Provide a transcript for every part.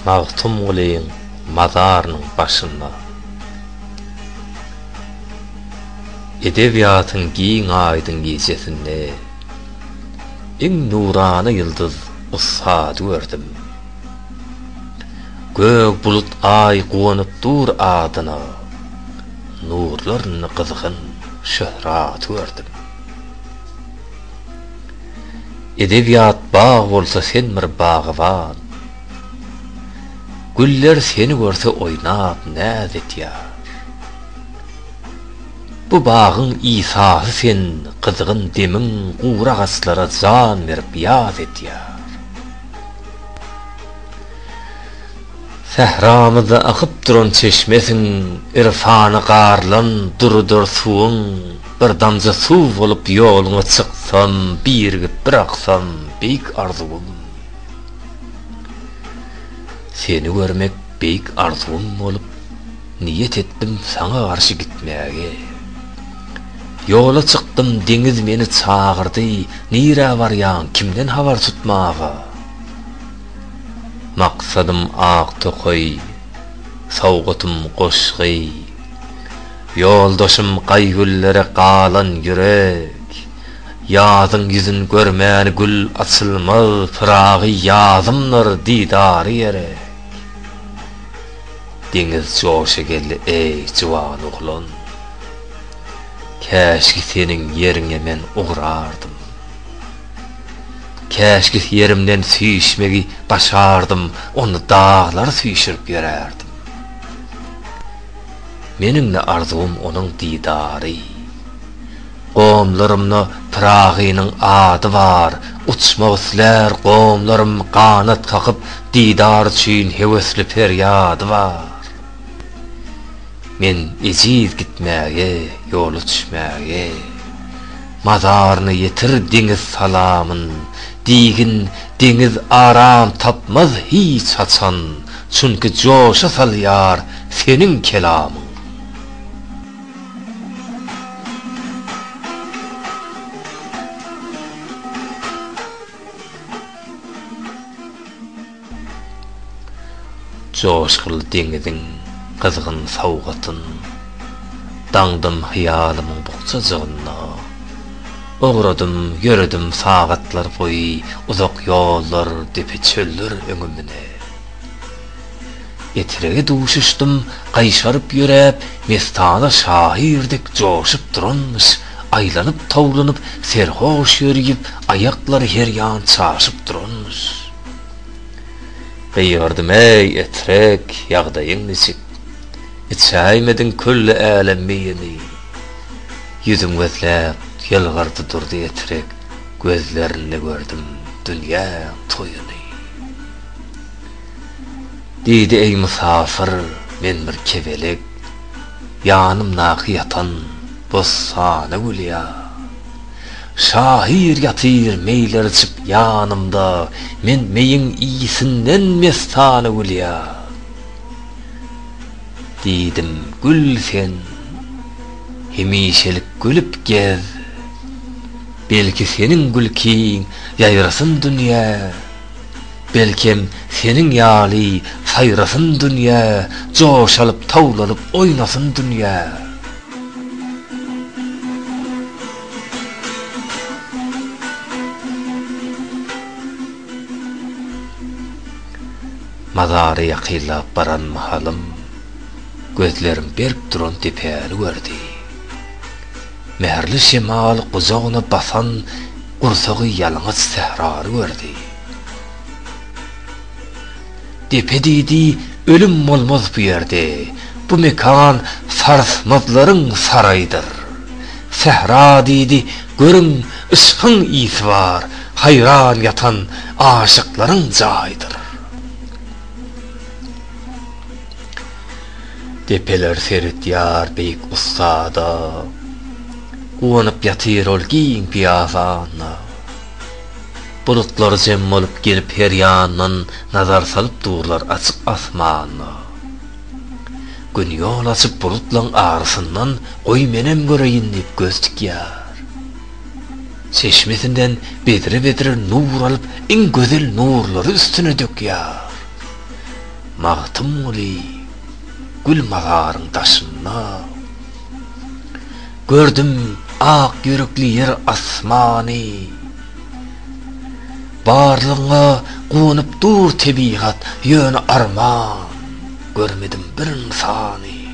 Magtymgulyň mazarynyň başynda Edebiýatyň giň aýdyň gijesinde Iň nurana ýyldyz ussady gördüm. Gök bulut aý guwanyp dur adyna Nurlarynda gyzgyn şöhraty gördüm. Edebiýat bag bolsa sen bir bagyban. Güller seni görse oýnap näz etýär. Bu bagyň Isasy sen gyzgyn demiň gury agaclara jan berip ýaz etýär. Sähramyzda akyp duran çeşmesiň, Irfany garlan durudyr suwuň, Bir damja suw bolup ýoluňa çyksam, Birigip bir aksam, beýik arzuwym. Seni görmek beýik arzuwym bolup, Niýet etdim saňa garşy gitmäge. Ýola çykdym, deňiz meni çagyrdy, Nirä barýaň, kimden habar tutmaga? Maksadym ak tokaý, sowgatym goşgy. Ýoldaşym gaý-güllere galan ýürek, Ýazyň ýüzün görmän gül açylmaz Pyragy ýazymdyr didary gerek. Deňiz joşa geldi eý juwan oglan, Käşgi seniň ýeriňe men ugrardym. Käşki ýerimden süýşmegi başardym, onda daglary süýşürip ýörärdim. Meniň-de arzuwym onuň didary. Gomlarymda Pyragynyň ady bar, uçmak islär gomlarym ganat kakyp didar üçin höwesli perýady bar. Men ejiz gitmäge, ýola düşmäge. Mazaryna ýetir deňiz salamyn, Diýgin deňiz aram tapmaz hiç haçan, Çünki joşa salýar seniň kelamyň. Joşguly deňiziň gyzgyn sowgatyn Daňdym hyýalymyň bukjajygynda. Ugradym, ýöredim sagatlar boýy Uzak ýollar, depe-çöller öňümde. Etrege duşuşdym gaýşaryp ýöräp Mestana şahyr dek joşup duranmyş Aýlanyp-towlanyp serhoş ýörüp Aýaklary her ýan çaşyp duranmyş. Gygyrdym-eý, Etrek, ýagdaýyň niçik? Içäýmediň külli älem meýini? Ýüzüm gözläp, ýylgyrdy durdy Etrek, Gözlerinde gördüm dünýäň toýuny. Diýdi, Eý, mysafyr, men bir kebelek, Ýanymdaky ýatan bossana gülýär. Şahyr ýatyr meýlerçip ýanymda Men meýiň iysinden mestana gülýär Diýdim gül sen hemişelik gülüp gez Belki seniň gülkiň ýaýrasyn dünýä Belkem seniň ýaly saýrasyn dünýä Joşalyp towlanyp oýnasyn dünýä. Mazary ýakynlap baran mahalym, gözlerim berk duran depäni gördi. Mähirli şemal gujagyna basan gursagy ýalňyç sährany gördi. Depe diýdi, Ölüm bolmaz bu ýerde. Bu mekan sarsmazlaryň saraýydyr. Sähra diýdi, Görüň, yşkyň ysy bar, haýran ýatan aşyklaryň jaýydyr. Depeler seretýär beýik ussada. Guwanyp ýatyr ol giň piýazanda. Bulutlary jem bolup gelip her ýandan nazar salyp durlar açyk asmana. Gün ýol açyp bulutlaň arasyndan goý menem göreýin diýip göz tikýär. Çeşmesinden bedre-bedre nur alyp iň gözel nurlary üstüne dökýär. Magtymguly, gül mazaryň daşynda. Gördüm ak ýürekli ýer asmany Barlygyňa guwanyp dur tebigat ýöne arman Görmedim bir ynsany.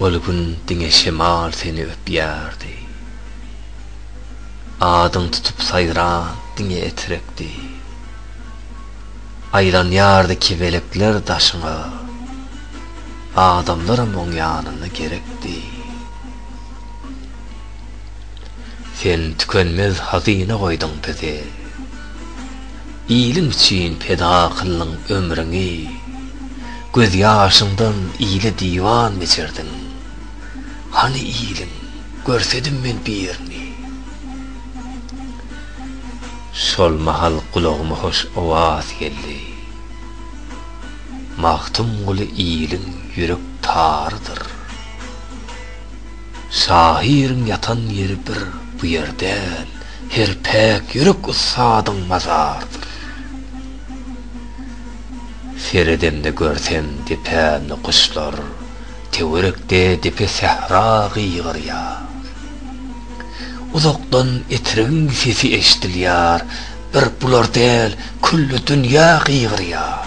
Ol gün diňe şemal seni öpýärdi. Adyň tutup saýran diňe etrekdi. Aýlanýardy kebelekler daşyňa. Adamlaram oň ýanynda gerekdi. Sen tükenmez hazyna goýduň bize. Iliň üçin peda kyldyň ömrüňi, Göz ýaşyňdan ile diwan biçerdiň. Hany iliň, görsedim men birini. Şol mahal gulagyma hoş owaz geldi, Magtymguly iliň ýürek tarydyr. Şahyryň ýatan ýeri bir bu ýer däl, her päk ýürek ussadyň mazardyr. Seredemde görsem depämde guşlar, töwerekde depe sähra gygyrýar. Uzakdan etrigiň sesi eşdilýär, bir bular däl külli dünýä gygyrýar.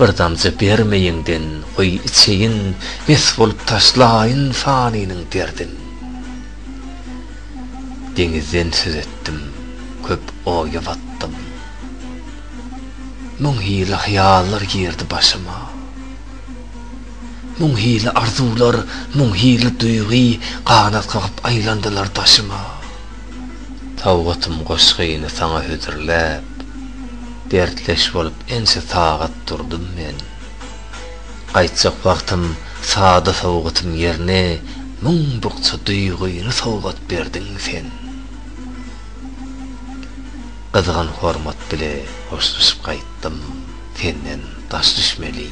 Bir damja bermeýiňden goý içeýin Mes bolup taşlaýyn fanynyň derdin Deňizden söz etdim köp oýa batdym Müň hili hyýallar girdi başyma Müň hili arzuwlar müň hili duýgy Ganat kakyp aýlandylar daşyma. Tawgatym goşgyny saňa hödürläp, Dertleş bolup ençe sagat durdum men. Gaýtjak wagtym sada sowgatym ýerine Müň bukja duýgyny sowgat berdiň sen. Gyzgyn hormat bile hoşlaşyp gaýtdym, Senden daş düşmeli,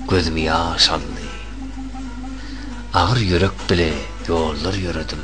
gözümi ýaş aldy. Agyr ýürek bile ýollar ýöredim.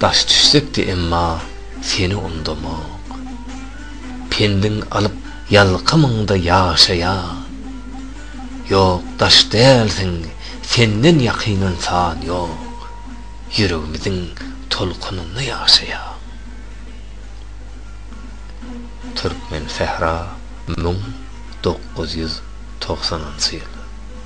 Daş düşsekdi emma seni undamak. Pendiň alyp ýalkamyňda ýaşaýan. Ýok daş dälsiň senden ýakyn ynsan ýok. Ýüregimiziň tolkunynda ýaşaýan. Türkmensähra müň dokuz ýüz togsanynjy ýyl.